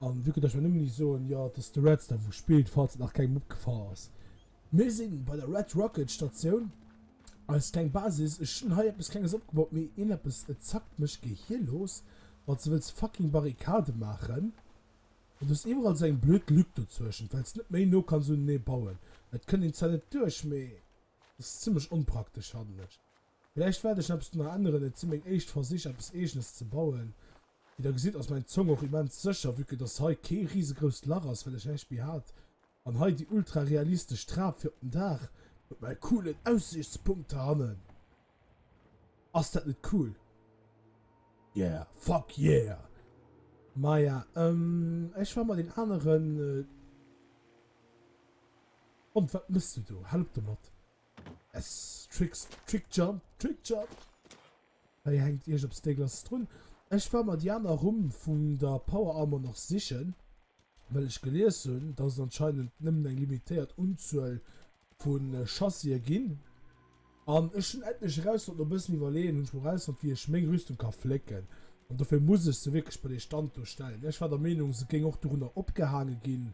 An du kënnt ech mer nëmmen ni soen, jo, et ass de Reds, der wou spillt, falls et nach kengem opgefall ass. Mir si bei der Red Rocket Statioun, eis kleng Basis. Ech hunn hei eppes Klenges opgebaut, mee een eppes, et zackt mech, Géi hie looss, wann s de wëlls fucking Barrikade maachen. An du hues iwwerall esou eng blöd Lück dozueschent, well s net méi no kanns uneneë bauen. Et kënnt een zwar net duerch, mee et ass zimmlech onpraktesch, fannen ech. Villäicht wäert ech eppes dono änneren, et si meng éischt Versich, eppes Eegenes ze bauen. Wéi der gesitt ass mäin Zong och immens sécher vue que dass hei kee risegrousst Lach ass well ech näischt méi hat an hei déi ultra realistesch Trap fir op den Daach mat mäi coolen Aussiichtspunkt hei hannen. Ass dat net cool? Yeah, fuck yeah! Maja ehm ech war mat een aneren Hond, wat mëss du do? Hal op domat! Yes! Tricks, Trick Jump, Trick Jump! Hei hänkt iergps eppes déckleches drun. Ech war mer déi aner Rumm vun der Power Armor nach sichen, well ech gelies hunn, dass et anscheinend nëmmen eng limitéiert Unzuel vu Chassis'e ginn. An ech hunn endlech erausfonnt, no bëssen iwwerleeën hunn ech mol erausfonnt, wéi ech meng Rüstung ka flécken. An dofir muss ech se wierklech bei dee Stand do stellen. Ech war der Meenung, se géing och dorunner opgehaange ginn,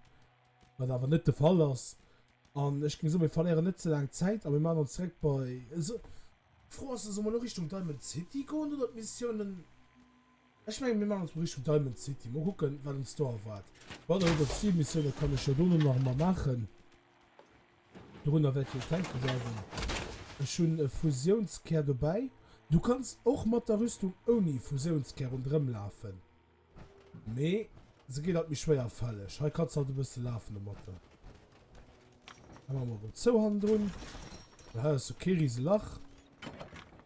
wat awer net de Fall ass. An ech géing soen, mir verléieren net ze laang Zäit a mir maachen ons direkt bei. D'Fro ass, solle mer elo Richtung Diamond City goen oder d'Missiounen. Ech mengen, mir maachen erëm Richtung Diamond City. Mol kucken, wat ons do erwaart. Bon, elo déi Zilmissioune kann ech jo dono nach emol maachen. Dorunner wäert jo denke bleiwen. Ech hunn e Fusiounskär dobäi. Du kanns och mat der Rüstung ouni Fusiounskär ronderëmlafen. Mee se ginn alt méi schwéier fälleg. Hei kannst du halt e bësse lafen domatter. Hei maache mer emol zou hannendrun. Hei ass jo kee riese Lach.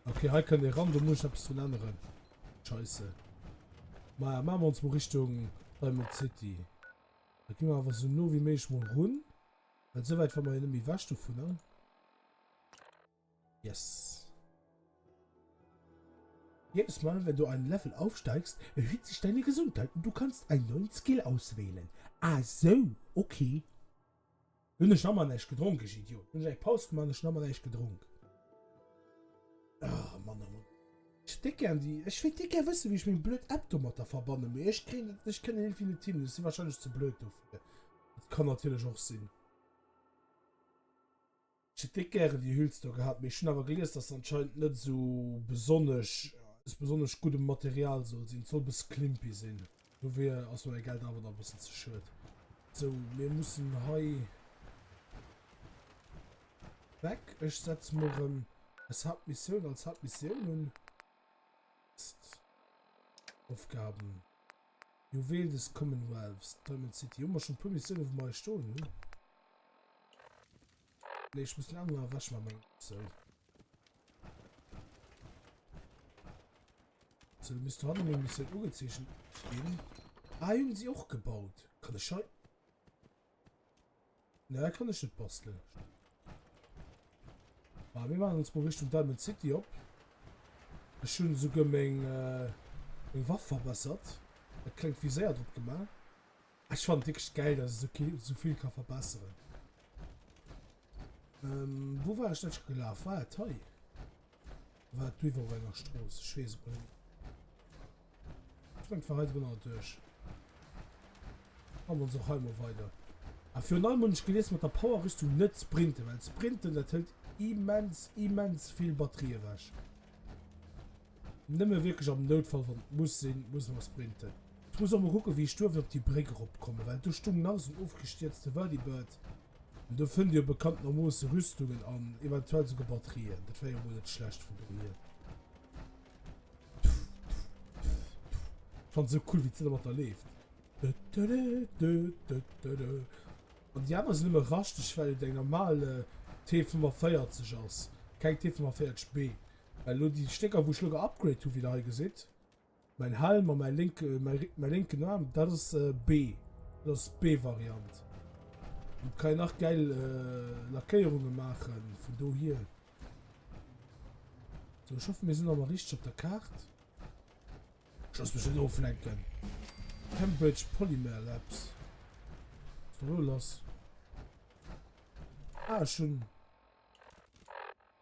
Okay, hei kënnt ee ran, do muss ech eppes drun änneren. Scheisse. Maja, maache mer ons mol Richtung Diamond City. Da gi mer awer sou no wéi méiglech mol run. Well souwäit ware mer jo net méi ewech dovunner. Yes. Jedes Mal, wenn du einen Level aufsteigst, erhöht sich deine Gesundheit und du kannst einen neuen Skill auswählen. Ah so, okay. Hun ech nammer näischt gedronk, ech Idiot. Hun ech eng Paus gemaach an ech nammer näischt gedronk. Ah, Mann a Mann. Ech déck gern déi, ech wéilt déck gär wëssen, wéi ech meng blöd App domatter verbannen, mee ech kréien dat, ech kënnen irgendwie net hin. Ech si wahrscheinlech ze blöd dofir. Dat kann natierlech och sinn. Ech hätt net gären déi Hüls do gehat, mee ech hunn awer gelies, dass se anscheinend net esou besonnesch aus besonnesch guddem Material soll sinn. Soll e bësse klimpy sinn. Dofir ass mer mäi Geld awer nach e bëssen ze schued. Sou, mir mussen hei weg. Ech setze mol erëm eis Hauptmissioun als Hauptmissioun un. Mist. Aufgaben. Juwel des Commonwealths, Diamond City. Hun mer schon puer Missioune wou mer eis stoen hun. Nee ech muss den Emmer ewech man mengen sou. So du misst hannen eng Missioun ugezeechent gin. Ah hun si och gebaut. Kann ech hei. Ne, kann ech net basteln. Ah, wir machen uns mal Richtung Diamond City op. Ech hun souguer meng, äh, meng Waff verbessert. Et klengt wie séier drop gemacht. Ech fand wirklich geil, dass so, so viel kann verbessern. Ähm, wo war ich denn gelaufen? War ah, et hei? War et bliwwer op enger Strooss? Ech weess et net. Ech mengen, et war hei drënner duerch. An ons och hei mol weider. A virun allem hunn ech gelies mat der Power-Rüstung net sprinten, well sprinten, dat hëlt immens, immens vill Batterie ewech. Nëmme wierklech am Noutfall, wann et muss sinn, muss mer sprinten. Ech muss och mol kucken, wéi ech duerf op déi Bréck eropkommen, well do stung nach esou en ofgestierzte Whirlybird. Do fënnt dir bekanntenermoosse Rüstungen an eventuell esouguer Batterien. Dat wär jo mol net schlecht vun dohier. Fand so cool, wéi d'Silla mat der leeft. An déi aner sinn ëmmer raschteg, well et eng normal T45 ass, keng T45B. Well elo déi Stécker, wou ech elo geupgraded hu, wéi der hei gesitt, Mäin Helm a mäi lénke, mäi lénken Aarm, dat ass B. Dat ass d'B-Variant. Domat kann een nach gäil Lackéierunge maachen, vun dohier. So, ech hoffe mir sinn awer richteg op der Kaart. Ich lass mech net oflenken. Cambridge Polymer Labs. Was da lo lass? Ah, schon.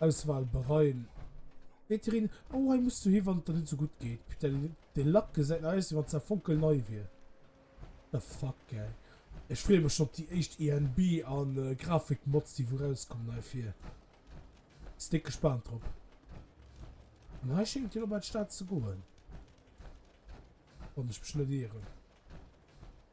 Auswahl bereien. Wéi d'Irene, Oh, hei muss du hi wann et der net esou gutt geet. Putain, dee Lack gesäit nach aus wéi wann se nach fonkelnei wier. What the fuck gang. Ech freeë mech schonn op déi éischt ENB a Grafikmods déi wou rauskommen heifir. Si déck gespaant drop. An hei schéngt jo dobäi d'Stad ze goen, wann ech mech net ieren.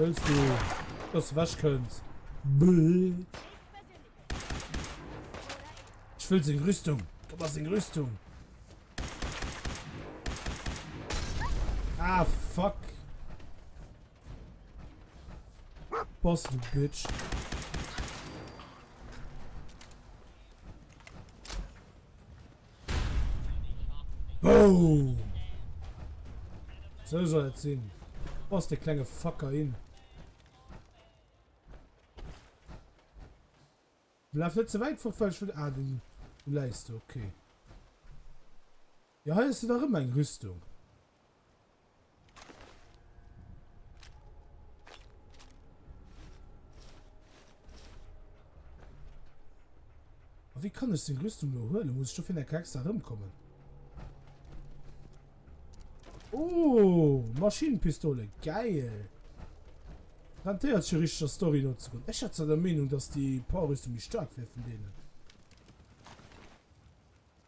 Willst du, dass du weg kannst? Ich will seine Rüstung. Gib mal seine Rüstung. Ah, fuck. Boss, du Bitch. Boom! So soll es sein. Boss, der kleine Fucker hin. Lauf nicht zu weit fort, weil ich will... Ah, du, du leist, okay. Jo hei hues de dach ëmmer eng Rüstung. A wéi kann ech seng Rüstung elo huelen? Muss ech dofir enke extra erëmkommen? Oh, Maschinenpistole, geil! Rentéiert sech jo richteg der Story no ze goen. Ech hat zwar der Meenung dass déi Power Rüstung méi staark wär vun deenen.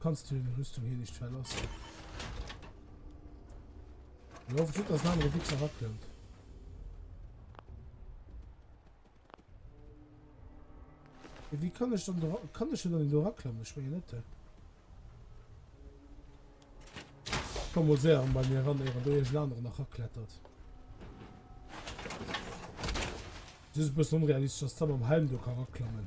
Kanns du deng Rüstung hir nicht verlassen? Ech hoffen just, dass en anere Wichser erakënnt. Wie kann ech dann do, kann ech dann do raklammen? Ich meine net. Komm mal sehr bei mir ran, ehe du irgendeinen anderen noch erklettert. Das ist ein bisschen unrealistisch, dass da beim Helm du kann raklammen.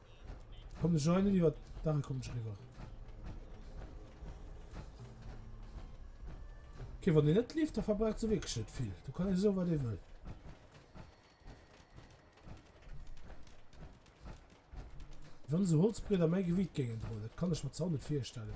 Komm de Joinen iwwer d'Dach kommen ech riwwer. Okay, wann den net lief, da verbraucht se wirklich net vill. Du kann e so wat e wëll. Wann se Holzbreder méi Gewicht géingen droen, dat kann ech mir zwar net virstellen.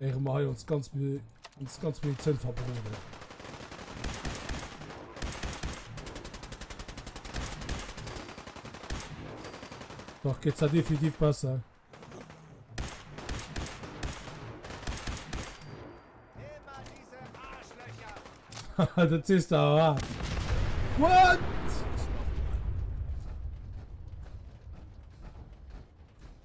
Héiere mer hei ons ganz ons ganz Minutt Zënn verbroden. Dach geet se definitiv besser. Dat sees der a. What?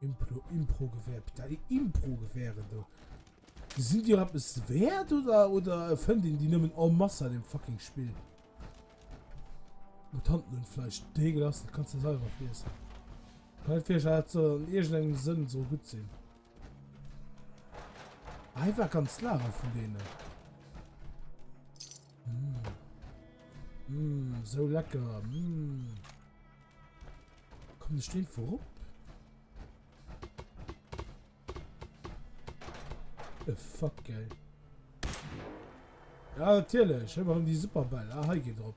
Implo, Improgewehr, putain déi Improgewehren do, sinn déi och eppes wäert oder oder fënnt een déi nëmmen en masse an deem fucking Spill? Mutanten hunn Fleisch, dee gelass, dat kanns de selwer friessen. Kann net virstellen dat soll an iergendengem Sënn soll gutt sinn. Ah, hei war ganz Lager vun deenen. Mmm, mmm, sou lecker, mmm. Komm de Steen vu rupp. E fuck geil. Ja natierlech, ëmmer um déi Superball. Ah hei geet drop.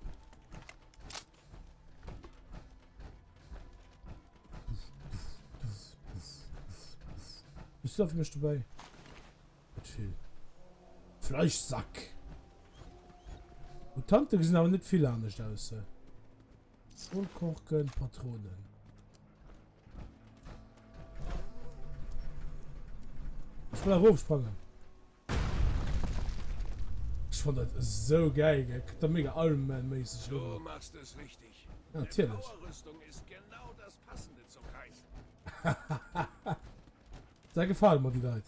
Bist du auf mich dabei? Mit viel. Fleischsack. Und Tante gesehen aber nicht viel anders aus. Zollkorken, Patronen. Ech well erof sprangen. Ech fand dat esou geil, gell? Kritt der mega Iron Man méisseg Logo. Du machst es richtig. Natierlech. Eng Power-Rüstung is genau das passende zum Kaiser. Hahaha. Dei gefalen mer, déi Leit.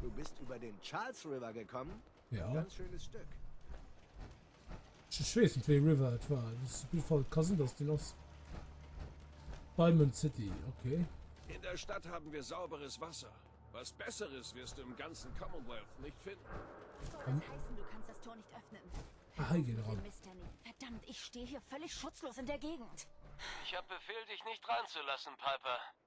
Du bist über den Charles River gekommen? Ja. Ein ganz schönes Stück. Ich weiß nicht, welche River es war. Das ist auf jeden Fall Cousin, dass die los. Diamond City, okay. In der Stadt haben wir sauberes Wasser. Was Besseres wirst du im ganzen Commonwealth nicht finden. Soll das hm? heißen, du kannst das Tor nicht öffnen? Ah, hier geht ran. Verdammt, ich stehe hier völlig schutzlos in der Gegend. Ich habe Befehl, dich nicht reinzulassen, Piper.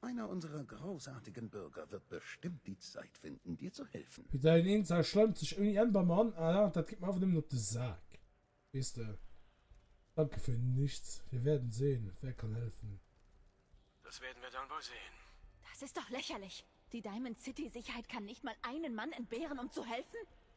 Einer unserer großartigen Bürger wird bestimmt die Zeit finden, dir zu helfen. Fir däin Eenz a schleimt sech ouni Enn bei mer an. Alaa, dat geet mer awer nëmmen op de Sak, weess de. Danke für nichts. Wir werden sehen, wer kann helfen. Das werden wir dann wohl sehen. Das ist doch lächerlich! Die Diamond City Sicherheit kann nicht mal einen Mann entbehren, um zu helfen?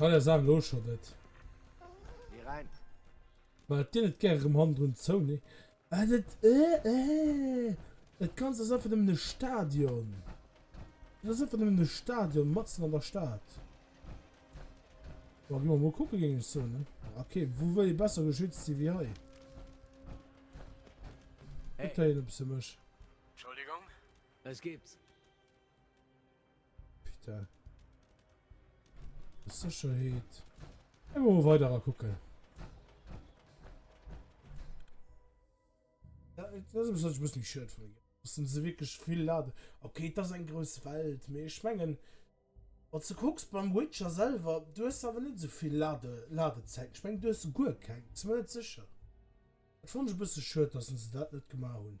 Kann ja sagen, lo schon net. Geh rein. Weil dir net gerne im Hand und so, ne? Ah, das, äh, äh. Das Ganze ist einfach nur ein Stadion. Das ist einfach nur ein Stadion, matzen an der Stadt. Wollen wir mal gucken gegen so, ne? Okay, wo will ich besser geschützt sein wie hier? Hey. Ich kann hier ein bisschen mich. Entschuldigung. Es gibt. Peter. Sicherheit. Immer weiter gucken. Ja, das ist ein bisschen schön von mir. Das sind sie wirklich viel laden. Okay, das ist ein großes Welt. Mir schmengen. Und du guckst beim Witcher selber, du hast aber nicht so viel Lade, Ladezeit. Ich meine, du hast gut kein. Zumindest sicher. Ich fand es ein bisschen schön, dass sie das nicht gemacht haben.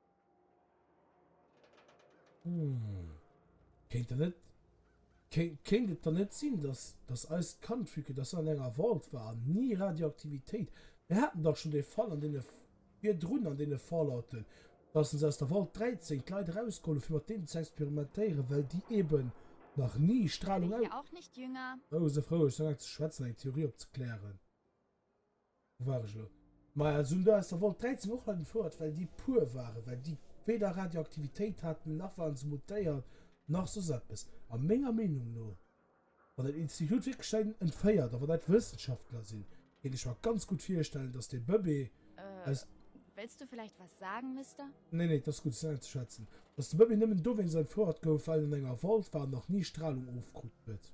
Hm. Kéint der net. Kéint, kéint et dann net sinn, dass, dass eist Kand, vu que dass en an enger Vault war an ni Radioaktivitéit. Mir haten dach schonn dee Fall an deene virdrun, an deene Fallouten, dass se aus der Vault 13 d'Leit erausgeholl hu fir mat deenen ze experimentéieren, well déi eeben nach ni Stralung aus. Oh, se frou ech sou laang ze schwätzen, eng Theorie opzeklären. War ech lo. Maja soun do aus der Volt 13 och hei gefouert well déi puer waren well déi weder Radioaktivitéit haten nach waren se mutéiert nach soss eppes a menger Meenung no wann den Institut wierklech säin entféiert a wann dat Wëssenschaftler sinn kéint ech mer ganz gutt virstellen dass dee Bëbee aus Wëlls du vläicht was sagen, Mister? Nee nee et ass gutt et ass auszeschwätzen dass de Bëbee nëmmen dowéinst entfouert gouf well en an enger Volt war an nach ni Stralung ofkrut huet.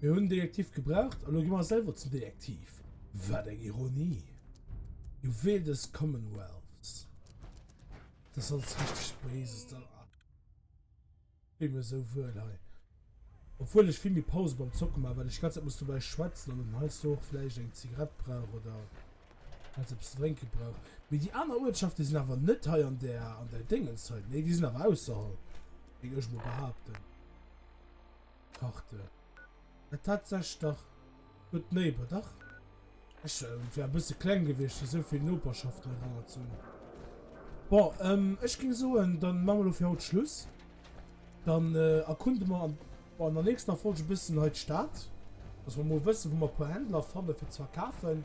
Mir hunn Detektiv gebraucht a lo gi mer selwer zum Detektiv. Wat eng Ironie! Juwel des Commonwealths. Das alles richtig Böses da. Wie mir so wuel hei. Obwohl ich viel mir Pause beim Zocken mache, weil ich ganz muss dabei schwätzen und dann heißt du auch vielleicht eng Zigarett brauch oder. Well se eppes ze drénke brauch. Mee déi aner Uertschafte sinn awer net hei an där, an där Déngens hei. Nee, déi sinn awer ausserhalb, géing ech mol behaapten. Karte. Et hat sech dach gutt néiber. Dach. Ech wär e bësse kleng gewiescht, fir esou vill Noperschaften eraner ze hunn. Bon, ech géing soen, da maache mer elo fir haut Schluss. Dann erkunde mer an der nächster Folge e bëssen hei d'Stad, dass mer mol wëssen, wou mer e puer Händler fanne fir ze verkafen.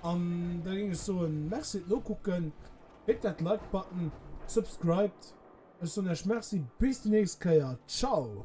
An da géing ech soen, Merci fir d'Nokucken, dréckt dat Like-Button, subscribed. Ech soen iech Merci, bis déi nächst Kéier, ciao!